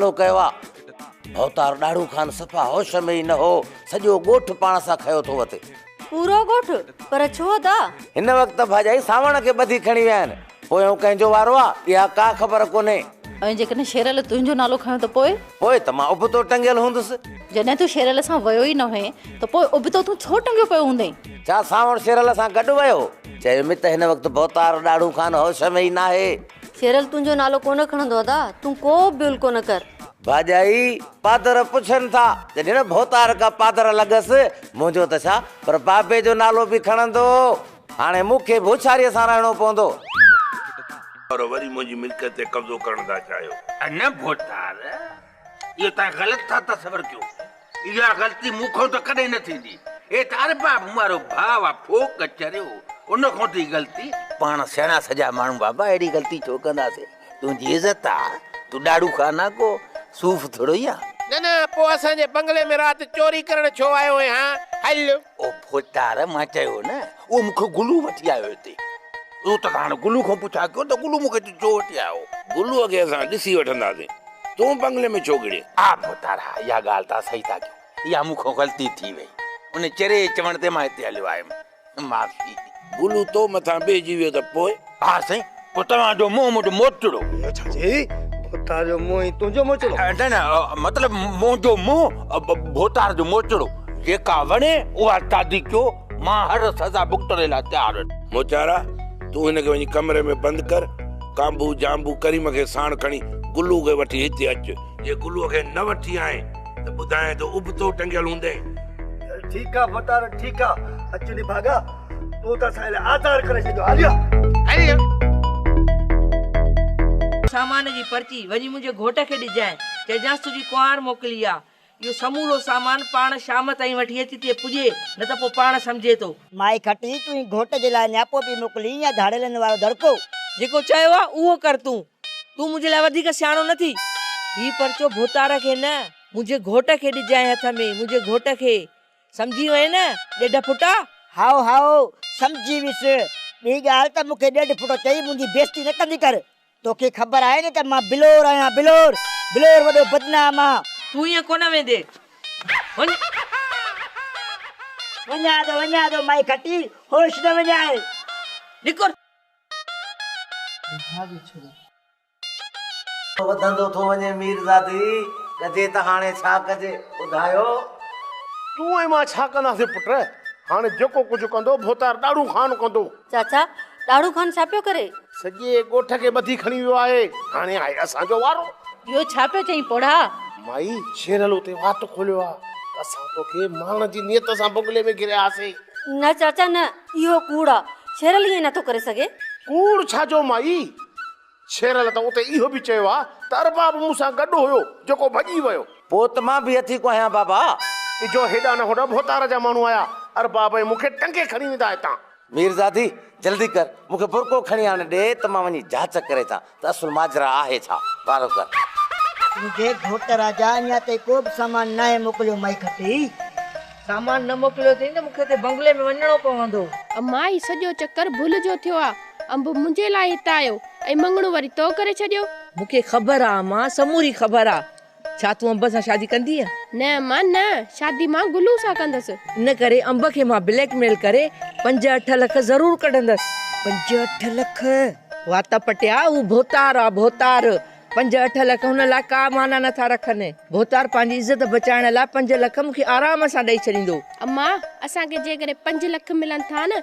حملو ڪيو آ. ڀوتار ڏاڙهو خان صفا هوش ۾ ئي نه هو، سڄو ڳوٺ پاڻ سان کنيو ٿو وتي. پورو ڳوٺ؟ پر ڇو ادا؟ هن وقت ڀاڄائي سانوڻ کي ٻڌي کڻي ويا آهن، پويون ڪنهن جو وارو آ، اها ڪا خبر ڪونهي. ۽ جيڪڏهن شيرل تنهنجو نالو کنيو ته پوء؟ پوء ته مان ابتو ٽنگيل هوندس. جڏهن تون شيرل سان ويو ئي نه هئين ته پوء ابتو تون ڇو ٽنگيو پيو هوندين؟ ڇا سانوڻ شيرل سان گڏ ويو؟ چيم ته هن وقت ڀوتار ڏاڙهو خان هوش ۾ ئي ناهي. سيرل تنهنجو نالو ڪونه کڻندو ادا تون ڪو به بول ڪونه ڪر. ڀاڄائي پادر پڇن ٿا جڏهن نه ڀوتار ڪا پادر لڳس منهنجو ته ڇا پر بابي جو نالو به کڻندو هاڻي مون کي به هوشياريء سان رهڻو پوندو. پر وري منهنجي ملڪيت تي قبضو ڪرڻ ٿا چاهيو. نه ڀوتار اهو توهان غلط ٿا تصور ڪيو. اها غلطي مون کان ته ڪڏهن نه ٿيندي. هي ته ارباب وارو ڀاء آ ڦوڪ چريو. ان کان ٿي غلطي. پاڻ سياڻا سجا ماڻهو بابا اهڙي غلطي ڇو ڪنداسين. تنهنجي عزت آ. تون ڏاڙهون کان آ ڪو صوف ٿورو ئي آ. نه نه پوء اسان جي بنگلي ۾ رات چوري ڪرڻ ڇو آيو هين هان. هل. او ڦوتار مان چيو نه اهو مون کي گلو وٺي آيو هتي اهو ته هاڻي گلو کان پڇا ڪيو ته گلو مون کي ڇو وٺي آيو گلو کي اسان ڏسي وٺنداسين تون بنگلي ۾ ڇو گهڙين. ها ڦوتار ها اها ڳالهه توهان صحيح ٿا ڪيو اها مون کان غلطي ٿي وئي ان چري چوڻ تي مان هتي هليو آيم معافي. گلو تو مٿان بيهجي ويو ته پوء؟ ها سائين پوء توهان جو منهن منهنجو موچڙو. اهو ڇا چيئي؟ ڀوتار جو منهن ۽ تنهنجو موچڙو؟ نه نه مطلب منهنجو منهن ڀوتار جو موچڙو. جيڪا وڻي اها شادي ڪيو مان هر سزا ڀڳتڻ لاء تيار آهيان. موچارا تون هن کي وڃي ڪمري ۾ بند ڪر. ڪانڀو، جانڀو، ڪريم کي ساڻ کڻي گلو کي وٺي هتي اچ. جي گلو کي نه وٺي آئين ته ٻڌايان ٿو ابتو ٽنگيل هوندين. ٺيڪ آهي ڀوتار ٺيڪ آهي. اچ نڀاڳا. تون ته اسان لاء آزار ڪري ڇڏيو عاليه. سامان جي پرچي وڃي منهنجي گهوٽ کي ڏجانء. چئجانس تنهنجي ڪنوار موڪلي آ. اهو سمورو سامان پاڻ شام تائين وٺي اچ تي پڄي نه ته پوء پاڻ سمجهي ٿو. مائي کٽي تنهنجي گهوٽ جي لاء نياپو پي موڪلين يا ڌاڙيلن وارو دڙڪو. جيڪو چيو آ اهو ڪر تون. تون منهنجي لاء وڌيڪ سياڻو نه ٿي. هي پرچو ڀوتار کي نه منهنجي گهوٽ کي ڏجانء هٿ ۾، منهنجي گهوٽ کي. سمجهي وئين نه ڏيڍ ڦٽا؟ هائو هائو سمجهي ويس. ٻي ڳالهه ته مون کي ڏيڍ ڦٽو چئي منهنجي بيعزتي نه ڪندي ڪر. توکي خبر آهي نه ته مان بلور آهيان بلور. بلور وڏو بدنام آ. تون ائين ڪونه ويندي وڃ. وڃان ٿو وڃان ٿو مائي کٽي هوش نه وڃائي. نڪر. ڀاڳي ڇڏي. وڌندو ٿو وڃي ميرزادي، ڪجي ته هاڻي ڇا ڪجي، ٻڌايو. تون ۽ مان ڇا ڪنداسين پٽ، هاڻي جيڪو ڪجهه ڪندو ڀوتار ڏاڙهون خان ڪندو. چاچا، ڏاڙهون خان ڇا پيو ڪري؟ سڄي ڳوٺ کي ٻڌي کڻي ويو آهي، هاڻي آهي اسان جو وارو. اهو ڇا پيو چئين پوڙها؟ مائي، شيرل اتي وات کوليو آهي ته اسان توکي مارڻ جي نيت سان بنگلي ۾ گهريا هئاسين. نه چاچا نه، اهو ڪوڙ آ. ڇيرل ائين نٿو ڪري سگهي. ڪوڙ ڇا جو مائي؟ ڇيرل ته اتي اهو به چيو آ ته ارباب مون سان گڏ هيو، جيڪو ڀڄي ويو. پوء ته مان به اٿي ڪو آهيان بابا. اجهو هيڏانهن نه هوڏانهن ڀوتار جا ماڻهو آيا. ارباب ۽ مون کي ٽنگي کڻي ويندا هتان. ميرزادي، جلدي ڪر، مون کي برقعو کڻي آڻي ڏي ته مان وڃي جاچ ڪري اچان. ته اصل ماجرا آهي ڇا؟ بارو ڪر. منهنجي گهوٽ راجا اڃا تائين ڪو به سامان ناهي موڪليو مائي گهٽي. سامان نه موڪليو اٿئي ته مون کي اتي بنگلي ۾ وڃڻو پوندو. مائي سڄو چڪر ڀل جو ٿيو آ. انب منهنجي لاء هت آيو ۽ مڱڻو وري تو ڪري ڇڏيو. مون کي خبر آ امان سموري خبر آ. ڇا تون انب سان شادي ڪندينء؟ نه مان نه، شادي مان گلو سان ڪندس. ان ڪري انب کي مان بليڪ ميل ڪري پنج اٺ لک ضرور ڪڍندس. پنج اٺ لک! وات پٽيا، هو ڀوتار آ، ڀوتار! پنج اٺ لک هن لاء ڪا معنيٰ نه ٿا رکن. ڀوتار پنهنجي عزت بچائڻ لاء پنج لک مون کي آرام سان ڏئي ڇڏيندو. امان! اسان کي جيڪڏهن پنج لک ملن ٿا نه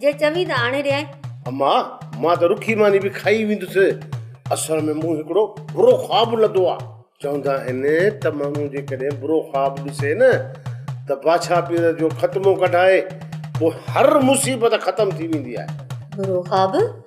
جي چوين ته آڻي ڏيانء. اما! مان ته رکي ماني به کائي ويندس. اصل ۾ مون هڪڙو برو خواب لڌو آ. چوندا آهن ته ماڻهو جيڪڏهن برو خواب ڏسي نه ته باڇا پير جو ختمو ڪڍائي پوء هر مصيبت ختم ٿي ويندي آهي. برو خواب؟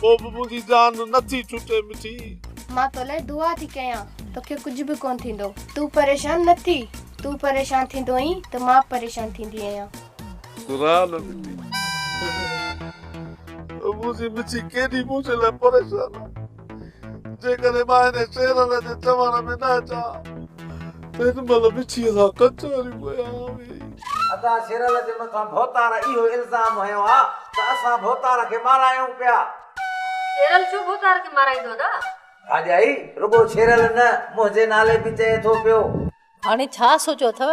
پوء به منهنجي جان نه ٿي ڇٽي مٺي. مان تو لئه دعا ٿي ڪيان، توکي ڪجهه به ڪونه ٿيندو. تون پريشان نه ٿي، تون پريشان ٿيندو اينء ته مان به پريشان ٿيندي اهيان. گهراء نه مٺي. منهنجي مٺي ڪيڏي منهنجي لاء پريشان آهي. جيڪڏهن مان هن شيرل جي چوڻ ۾ نه اچان ته هن مهل مڇيء سان ڪچهريون ڪيا هئي. اسان شيرل جي مٿان ڀوتار اهو الزام هنيو ها ته اسان ڀوتار کي مارايون پيا. شيرل ڇو ڀوتار کي مارائيندو ادا؟ ڀاڄائي رڳو شيرل نه منهنجي نالي به چئي ٿو پيو. هاڻي ڇا سوچيو اٿئو؟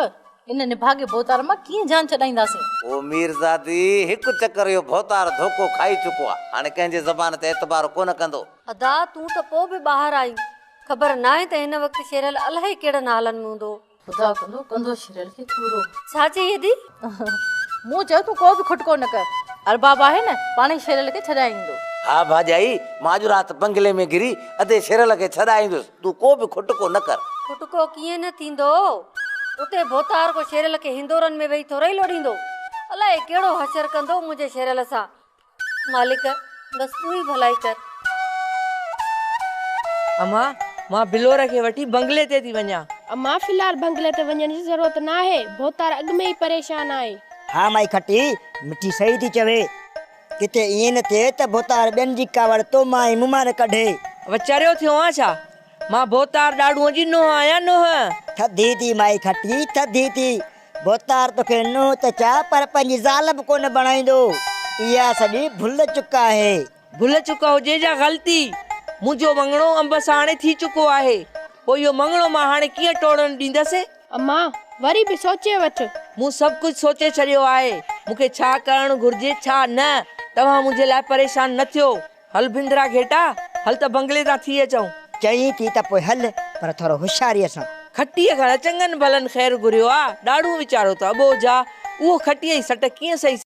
ان نڀاڳي ڀوتار مان ڪيئن جان ڇڏائينداسين؟ او ميرزادي! هڪ چڪر اهو ڀوتار ڌوڪو کائي چڪو آ. هاڻي ڪنهن جي زبان تي اعتبار ڪونه ڪندو. ادا! تون ته پوء به ٻاهر آهين. خبر ناهي ته هن وقت شيرل الائي ڪهڙن حالن ۾ هوندو. خدا ڪندو، ڪندو شيرل کي پورو. ڇا چئي ادي؟ مون چيو تون ڪو به کٽڪو نه ڪر. ارباب آهي نه، پاڻهي شيرل کي ڇڏائي ايندو. ها ڀاڄائي! مان اڄ رات بنگلي ۾ گهري ادي شيرل کي ڇڏائيندس. تون ڪو به کٽڪو نه ڪر. کٽڪو ڪيئن نه ٿيندو. اتي ڀوتار ڪو شيريل کي هندورن ۾ ويهي ٿورئي لوڏيندو. الائي ڪهڙو حشر ڪندو منهنجي شيريل سان. مالڪ بس تون ئي ڀلائي ڪر. امان مان بلور کي وٺي بنگلي تي ٿي وڃان. امان في الحال بنگلي تي وڃڻ جي ضرورت ناهي. ڀوتار اڳ ۾ ئي پريشان آهي. ها مائي کٽي مٺي صحيح ٿي چوي. ڪٿي ائين نه ٿئي ته ڀوتار ٻين جي ڪاوڙ تو مان ۽ مون مان نه ڪڍي. وچريو ٿيو آن ڇا؟ مان ڀوتار ڏاڙهونء جي نونهن آهيان، نونهن! ٿڌي ٿي مائي کٽي، ٿڌي ٿي. ڀوتار توکي نونهن ته ڇا پر پنهنجي زال به ڪونه بڻائيندو. اها سڄي ڀل چڪ آهي. ڀل چڪ هجي يا غلطي، منهنجو مڱڻو انب سان هاڻي ٿي چڪو آهي. پوء اهو مڱڻو مان هاڻي ڪيئن ٽوڙڻ ڏيندس؟ امان، وري به سوچي وٺ. مون سڀ ڪجهه سوچي ڇڏيو آهي. مون کي ڇا ڪرڻ گهرجي ڇا نه. توهان منهنجي لاء پريشان نه ٿيو. هل ڀينڌرا گهيٽا، هل ته بنگلي تان ٿي اچون. چئين ٿي ته پوء هل، پر ٿورو هوشياريء سان. کٽيء کان نه چڱن ڀلن خير گهريو آ. ڏاڙهون ويچارو ته اٻوجهه آ. اهو کٽيء جي سٽ ڪيئن سهي سگهندو.